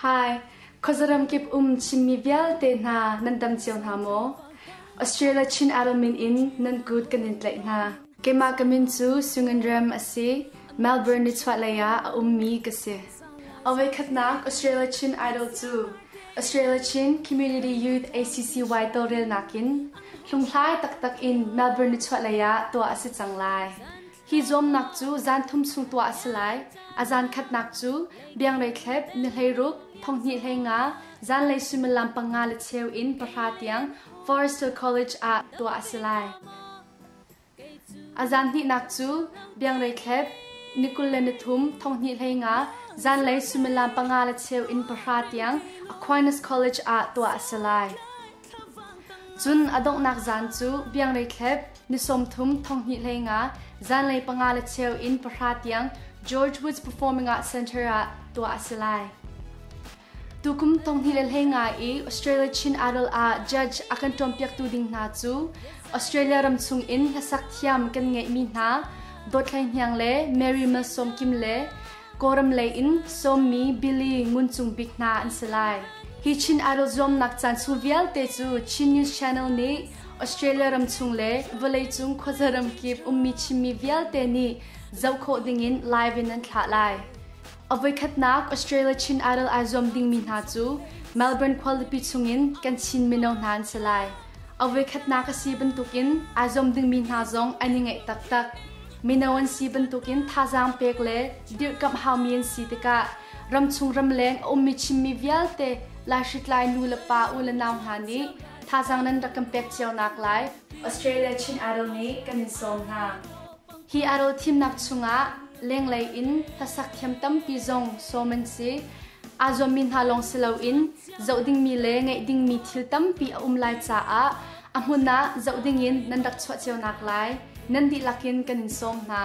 Hi khuazaram kip um Chinmi vialte hna nan dam cio hna maw? Australia Chin Idol min in nan kut kan in tlaih hna. Keimah ka min cu Sungin Rem a si. Melbourne nichuahlei ah a ummi ka si. Awekhatnak Australia Chin Idol cu Australia Chin Community Youth ACCY tawlrelnak in hlunghlai taktak in Melbourne nichuahlei ah tuah a si cang lai. Hi zuamnak cu zan thum chung tuah a si lai. A zan khatnak cu bianglei thlep, ni hleiruk, thonghnih hlei nga, zanlei suimilam panga le cheu in pahra tiang Forester College ah tuah a si lai. A zan hnihnak cu bianglei thlep, ni kul le ni thum, thonghnih hlei nga, zanlei suimilam panga le cheu in pahra tiang Aquinas College ah tuah a si lai. Cun a donghnak zan cu biangrei thlep ni sawmthum thonghnih hlei nga zanlei panga le cheu in pahra tiang George Woods performing ah center ah tuah a si lai. Tukum thonghnih le hlei nga i Australia Chin Idol ah judge a kan ṭawmpiaktu ding hna cu Australia ram chung in hlasak thiam kan ngeihmi hna Dawt Hlei Hniang le Mary Malsawm Kim le Kawlram lei in sawmmi Billy Ngun Cung Bik hna an si lai. Hi Chin Idol zuamnak caan chung vialte cu Chin News Channel nih Australia ram chung le vawleicung khuaza ramkip ummi Chinmi vialte nih zoh khawh dingin live in an thlah lai. A voikhatnak Australia Chin Idol ai zuam dingmi hna cu Melbourne khualipi chungin kan Chin mino hna an si lai. A voikhatnak a si bantukin ai zuam dingmi hna zong an i ngaih taktak. Mino an si bantukin thazaang pek le dirhkamh haumi an si tikah ramchung ramleng a ummi Chinmi vialte laihritlai nu le pa u le nau hna nih thazaang nan rak kan pek cio naklai Australia Chin Idol nih kan in sawm hna. Hi Idol thimnak chungah lenglei in hlasak thiam tampi zong sawm an si. Aa zuammi hna lawng si loin zoh dingmi le ngeih dingmi thil tampi a um lai caah A hmun ah zoh dingin nan rak chuah cio naklai nan dihlak in kan in sawm hna.